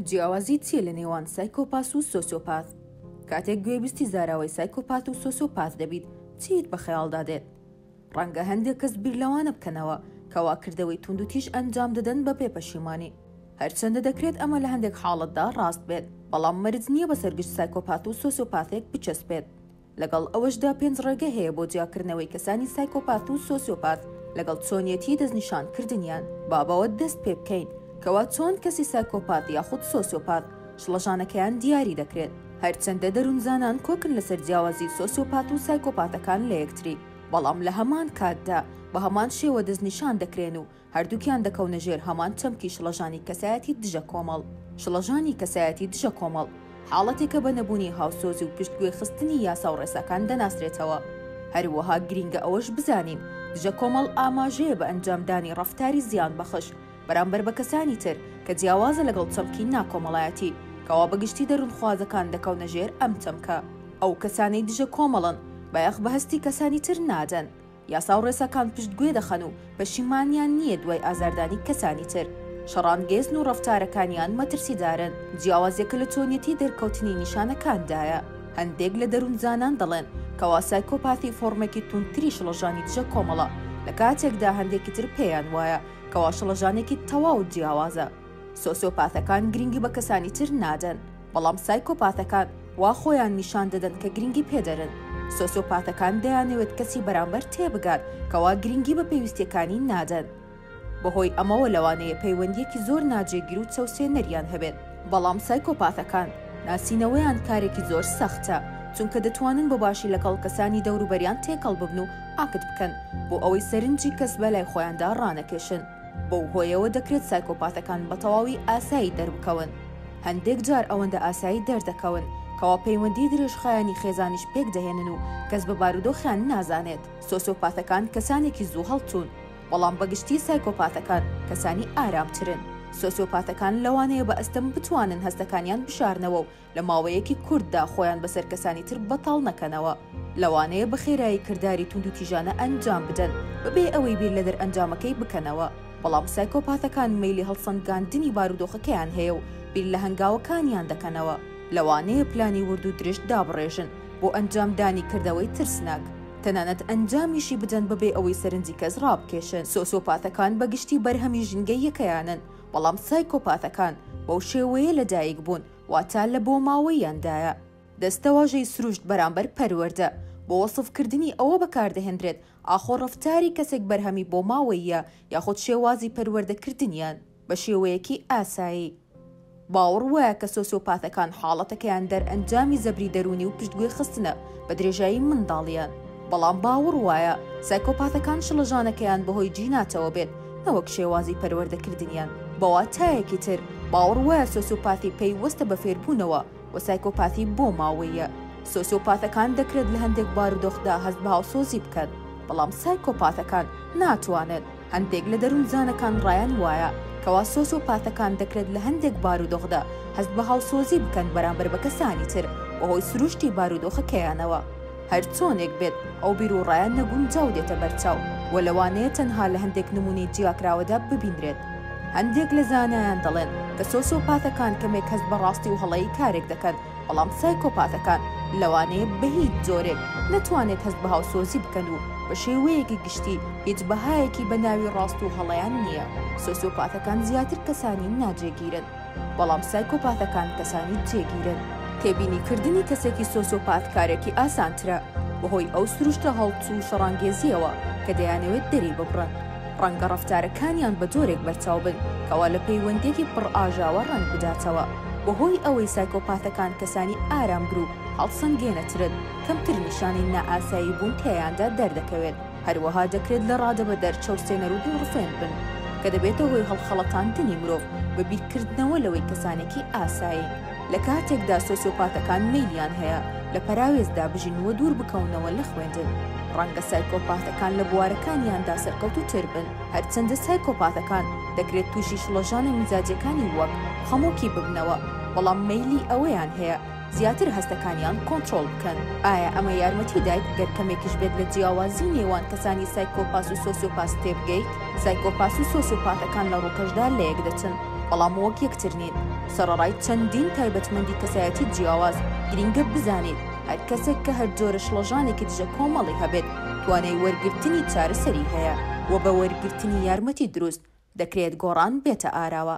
جیاوازی چیە لە نێوان سایکۆپاس و سۆسیۆپاس؟ کاتێک گوێبیستی زاراوەی سایکۆپات و سۆسیۆپاس دەبیت چیت بە خەیاڵدا دێت؟ ڕەنگە هەندێک کەس بیر لەوانە بکەنەوە کەوا کردەوەی توندوتیژ ئەنجام دەدەن بە بێ پەشیمانی. هەرچەندە دەکرێت ئەمە لە هەندێک حاڵەتدا ڕاست بێت، بەڵام مەرج نیە بەسەر گشت سایکۆپات و سۆسیۆپاسێک بچەسپێت. لەگەڵ ئەوەشدا پێنج ڕێگە هەیە بۆ جیاکردنەوەی کەسانی سایکۆپاث و سۆسیۆپاث لەگەڵ چۆنیەتی دەستنیشان کردنیان. با بەوە دەست پێ بکەین کەوا چۆن کەسی سایکۆپاث یاخود سۆسیۆپاث شڵەژانەکەیان دیاری دەکرێت. هەرچەندە دەروونزانان کۆکن لەسەر جیاوازی سۆسیۆپاث و سایکۆپاثەکان لەیەکتری بەڵام لەهەمان کاتدا بەهەمان شێوە دەستنیشان دەکرێن و هەردووکیان دەکەونە ژێر هەمان چەمکی شڵەژانی کەسایەتی دژە کۆمەڵ. شڵەژانی کەسایەتی دژە کۆمەڵ، حاڵەتێکە بە نەبوونی هاوسۆزی و پشتگوێ خستنی یاسا و ڕێساکان دەناسرێتەوە. هەروەها گرینگە ئەوەش بزانین دژە کۆمەڵ ئاماژەیە بە ئەنجام دانی ڕەفتاری زیان بەخش بەرامبەر بە کەسانی تر کە جیاوازە لەگەڵ چەمکی ناکۆمەڵایەتی. کەوا بە گشتی دەروونخوازەکان دەکەونە ژێر ئەم چەمکە. ئەو کەسانەی دژە کۆمەڵن بایەخ بە هەستی کەسانی تر نادەن. یاسا و ڕێساکان پشتگوێ دەخەن و پەشیمانیان نییە دوای ئازاردانی کەسانی تر. شەڕانگێزن و ڕەفتارەکانیان مەترسیدارن. جیاوازییەکە لە چۆنیەتی دەرکەوتنی نیشانەکاندایە. هەندێک لە دەروونزانان دەڵێن کەوا سایکۆپاثی فۆڕمێکی توندتری شڵەژانی دژە کۆمەڵە، لە کاتێکدا هەندێکی تر پێیان وایە کەوا شڵەژانێکی تەواو جیاوازە. سۆسیۆپاتەکان گرنگی بە کەسانی تر نادەن، بەڵام سایکۆپاتەکان وا خۆیان نیشان دەدەن کە گرنگی پێدەرن. سۆسیۆپاتەکان دەیانەوێت کەسی بەرامبەر تێبگات کەوا گرنگی بە پێویستیەکانی نادەن. بەهۆی ئەمەوە لەوانەیە پەیوەندیەکی زۆر ناجێگیر و چەوسێنەریان هەبێت. بەڵام سایکۆپاتەکان ناسینەوەیان کارێکی زۆر سەختە، چونکە دەتوانن بە باشی لەگەڵ کەسانی دەوروبەریان تێکەڵ ببن و ئاکت بکەن بۆ ئەوەی سەرنجی کەس بەلای خۆیاندا ڕانەکێشن. بەو هۆیەوە دەکرێت سایکۆپاتەکان بە تەواوی ئاسایی دەربکەون. هەندێک جار ئەوەندە ئاسایی دەردەکەون کەوا پەیوەندی درێژخایەنی خێزانیش پێکدەهێنن و کەس بە بارودۆخیان نازانێت. سۆسیۆپاتەکان کەسانێکی زوو هەڵچوون، بەڵام بە گشتی سایکۆپاتەکان کەسانی ئارامترن. سۆسیۆپاتەکان لەوانەیە بە ئەستەم بتوانن هەستەکانیان بشارنەوە و لە ماوەیەکی کورتدا خۆیان بەسەر کەسانی تر بەتاڵ نەکەنەوە، لەوانەیە بە خێرایی کرداری توندوتیژانە ئەنجام بدەن بەبێ ئەوەی بیر لە دەرئەنجامەکەی بکەنەوە، بەڵام سایکۆپاثەکان مەیلی هەڵسەنگاندنی بارودۆخەکەیان هەیە و بیر لە هەنگاوەکانیان دەکەنەوە، لەوانەیە پلانی ورد و درشت دابڕێژن بۆ ئەنجامدانی کردەوەی ترسناک، تەنانەت ئەنجامیشی بدەن بەبێ ئەوەی سەرنجی کەس ڕابکێشن. سۆسیۆپاثەکان بە گشتی بەرهەمی ژینگەییەکەیانن، بەڵام سایکۆپاثەکان بەو شێوەیە لەدایکبوون واتە لە بۆماوەییاندایە. دەستەواژەی سروشت بەرامبەر پەروەردە، بۆ وەسفکردنی ئەوە بەکاردەهێنرێت ئاخۆ ڕەفتاری کەسێک بەرهەمی بۆماوەییە یاخود شێوازی پەروەردەکردنیان، بە شێوەیەکی ئاسایی. باوەڕ وایە کە سۆسیۆپاتەکان حاڵەتەکەیان دەرئەنجامی زەبری دەروونی و پشتگوێخستنە، بە درێژایی منداڵییان، بەڵام باوەڕ وایە سایکۆپاتەکان شڵەژانەکەیان بەهۆی جیناتەوە بێت نەوەک شێوازی پەروەردەکردنیان، بە واتایەکی تر باوەڕ وایە سۆسیۆپاثی پەی وەستە بە فێربوونەوە و سایکۆپاثی بۆ ماوەییە. سۆسیۆپاثەکان دەکرێت لە هەندێک بارودۆخدا هەست بە هاوسۆزی بکەن، بەڵام سایکۆپاثەکان ناتوانن. هەندێک لە دەروونزانەکان ڕایان وایە کەوا سۆسۆپاتەکان دەکرێت لە هەندێک بارودۆخدا هەست بە هاوسۆزی بکەن بەرامبەر بە کەسانی تر بەهۆی سروشتی بارودۆخەکەیانەوە. هەرچۆنێک بێت، ئەو بیروڕایە نەگونجاو دێتە بەرچاو و لەوانەیە تەنها لە هەندێک نموونەی جیاکراوەدا ببینرێت. هەندێک لە زانایان دەڵێن کە سۆسۆپاتەکان کەمێک هەست بە ڕاستی و هەڵەی کارێک دەکەن، بەڵام سایکۆپاتەکان لەوانەیە بەهیچ جۆرێک نەتوانێت هەست بە هاوسۆزی بکەن و بە شێوەیەکی گشتی هیچ بەهایەکی بە ناوی ڕاست و هەڵەیان نییە، سۆسیۆپاتەکان زیاتر کەسانی ناجێگیرن، بەڵام سایکۆپاتەکان کەسانی جێگیرن. تێبینی کردنی کەسێکی سۆسیۆپات کارێکی ئاسانترە بەهۆی ئەو سروشتە هەڵچوو و شەڕانگێزییەوە کە دەیانەوێت دەریببڕن. ڕەنگە ڕەفتارەکانیان بە جۆرێک بەرچاو بن کەوا لە پەیوەندییەکی پڕ ئاژاوە ڕەنگ بداتەوە. بەهۆی ئەوەی سایکۆپاتەکان کەسانی ئارامگر و هەڵسەنگێنەترن، کەمتر نیشانەی نائاسایی بوون تیایاندا دەردەکەوێت. هەروەها دەکرێت لە ڕادەبەدەر چەوسێنەر و دڵڕفێن بن، کە دەبێتە هۆی هەڵخەڵەتاندنی مرۆڤ بە بیرکردنەوە لەوەی کەسانێکی ئاسایین. لە کاتێکدا سۆسیۆپاتەکان مەیلیان هەیە لە پەراوێزدا بژین و دوور بکەونەوە لە خوێندن. ڕەنگە سایکۆپاتەکان لە بوارەکانیاندا سەرکەوتووتر بن، هەرچەندە سایکۆپاتەکان دەکرێت تووشی شڵەژانە میزاجییەکانی وەک خەمۆکی ببنەوە، بەڵام مەیلی ئەوەیان هەیە زیاتر هەستەکانیان کۆنترۆڵ بکەن. ئایا ئەمە یارمەتی دایت گەر کەمێکیش بێت لە جیاوازی نێوان کەسانی سایکۆپاس و سۆسیۆپاس تێبگەیت؟ سایکۆپاس و سۆسیۆپاتەکان لە ڕووکەشدا لەیەک دەچن. بەڵام وەک یەکتر نین، سەڕەڕای چەندین تایبەتمەندی کەسایەتی جیاواز، گرینگە بزانین هەر کەسێک کە هەر جۆرە شڵەژانێکی دژە کۆمەڵی هەبێت توانای وەرگرتنی چارەسەری هەیە و بە وەرگرتنی یارمەتی دروست، دەکرێت گۆڕان بێتە ئاراوە.